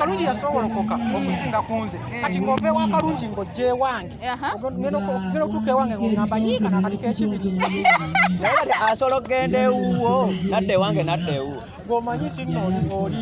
kalungi yasowolokoka okusinga ku nze eh. kati ng'ova ewa kalungi ng'ojja ewange ngenda okutuuka ewange ng'ogamba yiika nakati k'ekibiri naye asobola okugenda ewuwo nadda ewange nadda ewuwo ng'omanyi nti nno oli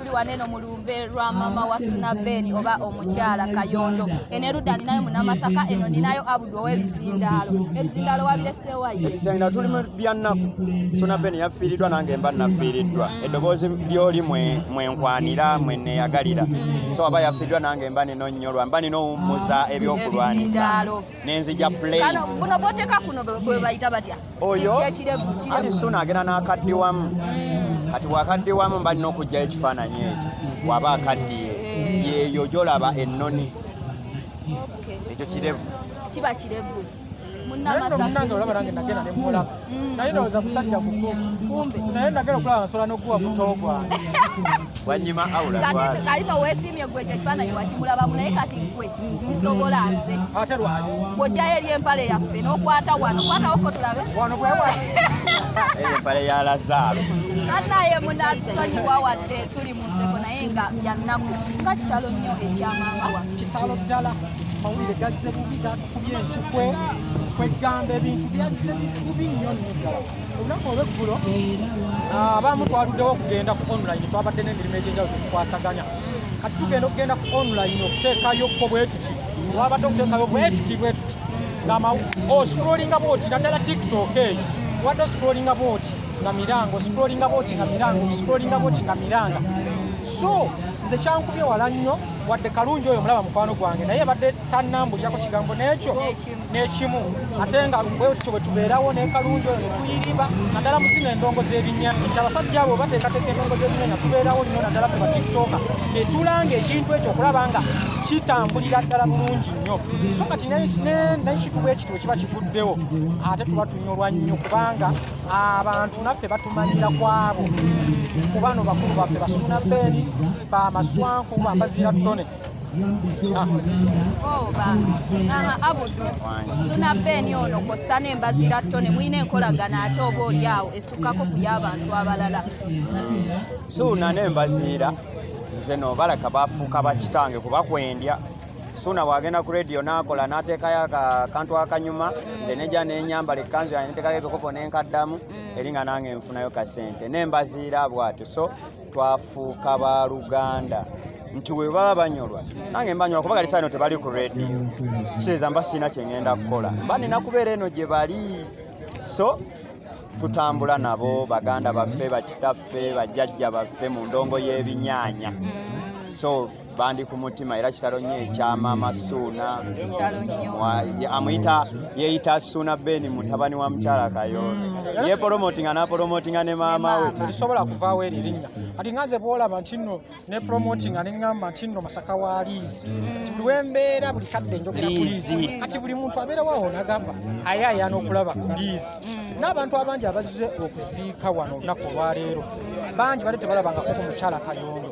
tuli waneno mu lumbe lwa mama wa suna ben oba omukyala kayondo eno erudda ninayo munamasaka eno ninayo abudu owebizindaalo ebizindaalo wabireseewayo ebizindaalo tuli byannaku suna ben yafiiriddwa nange mba nafiiriddwa mm. eddoboozi lyoli mwenkwanira mweneyagalira mm. so aba yafiiriddwa nange mba nino nyolwa mba nina owummuza ebyokulwanyisa nenzija plane buno boteka kuno bwebayita batya oyo ali suna agenda n'akaddiwamu mm. kati bwakaddiwamu mba nina okugjayo ekifaananyi ekyo mm. waba akaddiye eh. yeeyo gyolaba ennoni ekyo kirevu kiba kirevu munamasaaolaba nange nagenda nemulaba Mm. naye ndowooza musajja mukulu naye nagera okulaba nsobola nokuwa muto gwange wanyima awulakalima wesimye gwe kyekifaananyi wakimulabamu naye kati gwe sisobola nze ate lwaki bwojjayo eri empale yaffe nokwata wano kwatawo ko tulabe wano bwewa empale ya lazaalo anaye munatusonyiwa wadde tuli mu nseko naye nga byannaku nga kitalo nnyo ekyamama wa kitalo ddala mawulire gazze bubi enkikwe kwegamba ebintu byazze bikubi nnyo nnyo ddala olunaku olweggulo ah, abamu twaluddewo okugenda ku online twabadde n'emirimu egyenjawulo tukwasaganya kati tugenda okugenda ku online okuteekayo ko bwetuti wabadde okuteekayo bwetuti bwetuti ngama oscrollinga bwoti naddala tiktok eyo wadde oscrollinga bwoti nga miranga oscrollinga bwoti nga miranga oscrollinga bwoti nga miranga so nze kyankubye wala nnyo wadde kalungi oyo mulaba mukwano gwange naye badde tannambulirako kigambo n'ekyo n'ekimu ate nga bwe tutyo bwe tubeerawo n'ekalungi oyo netuyiriba naddala muzina endongo z'ebinya nti abasajja abo bateekateeka endongo z'ebinya nga tubeerawo nnyo naddala fe batiktoka netulanga ekintu ekyo okulaba nga kitambulira ddala bulungi nnyo so kati nekituba ekito ekiba kiguddewo ate tuba tunyolwa nnyo kubanga abantu naffe batumanyira kwabo kubano bakulu baffe basuuna beeni bamaswanku bambazira ttone suna beeni ono kwossa n'embazira ttone mulina enkolagana ate oba olyawo esukkako ku y'abantu abalala suuna n'embaziira nze no balaka bafuuka bakitange kuba kwendya suuna bwagenda ku rediyo n'akola n'ateekayo akantu akanyuma mm. nze nejja n'enyambala ekkanzu yange neteekayo ebikopo n'enkaddamu mm. eri nga nange nfunayo kasente n'embaziira bwatyo so twafuuka ba luganda nti we baba banyolwa nange mbanyolwa kuba gali saano tebali ku radio kiteeza mba sirina kye ngenda kukola mba nina kubeera eno gye bali so tutambula nabo baganda baffe bakitaffe bajjajja baffe mu ndongo y'ebinyaanya so bandi ku mutima era kitalo nnyo ekya maama suuna amuyita yeeyita suuna beni mutabani wa mukyala kayondo mm. yepolomotinga napolomotinga ne maama we terisobola kuvaawo eri linnya ati nga nze bwolaba nti nno ne promotinga ne ŋŋamba nti nno masaka wa liizi mm. buli wembeera buli kadde njogera ku liizi kati buli muntu abeerawawo nagamba aye ayana okulaba ku liizi mm. n'abantu abangi abazize okuziika wano olunaku olwaleero bangi bali tebalabangako ku mukyala kayondo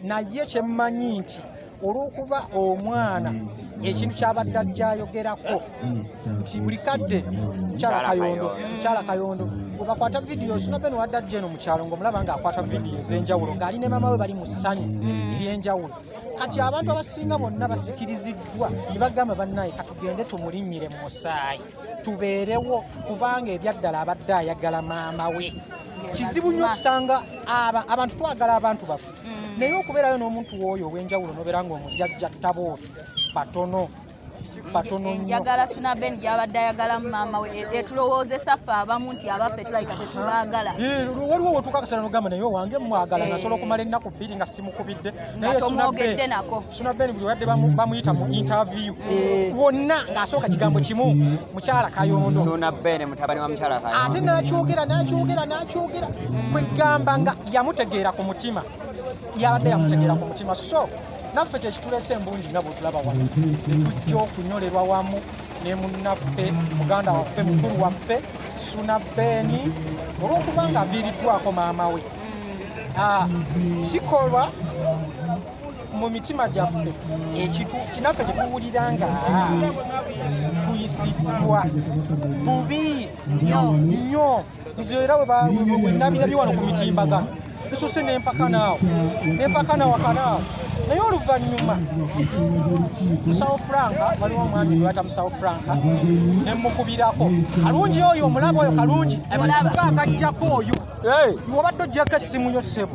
naye kyemmanyi nti olw'okuba omwana ekintu kyabadde ajja ayogerako nti buli kadde mukyala kayondo mukyala kayondo webakwata vidiyo sinabeno wadde ajja eno mukyalo ngaomulaba nga akwata vidiyo ez'enjawulo ng'ali ne maama we bali mu ssanyu mm. ery'enjawulo kati abantu abasinga bonna basikiriziddwa ne bagamba bannaye katugende tumulinnyire mu musaayi tubeerewo kubanga ebyaddala abadde ayagala maama we kizibu nnyo okusanga abantu twagala abantu baffe mm. naye okubeerayo n'omuntu wooyo ow'enjawulo nobeera nga omujajja ttabo otyo batono njagala suna ben gyabadde ayagala maama we e, etulowoozesa ffe abamu nti abaffe tulabika tetubaagala waliwo wotuuka kasala nogamba naye owange mwagala nasobola okumala ennaku bbiri nga simukubidde naye tomwogedde nako Suna Ben buli wadde bamuyita mu interview eh. wonna ng'asooka kigambo kimu mukyala kayondo Suna Ben mutabani wa mukyala kayondo ate n'akyogera n'akyogera n'akyogera kwegamba nga yamutegeera ku mutima yabadde yamutegeera ku mutima so naffe kyekituleese embungi nga bwetulaba wano netujja okunyolerwa wamu ne munnaffe muganda waffe mukulu waffe Suna Ben olw'okuba nga aviiriddwako maama we mm. ah, sikolwa mu mitima gyaffe kinaffe kyetuwulira nga tuyisiddwa bubi nnyo nze era wenabirabye wano ku mitimbagano esose nempaka naawo nempaka nawakanaawo naye oluvannyuma musawo franka waliwo omwami gwata musawo franka nemukubirako kalungi oyo omulaba oyo kalungi akajjako oyo obadde ojjako essimu yo ssebo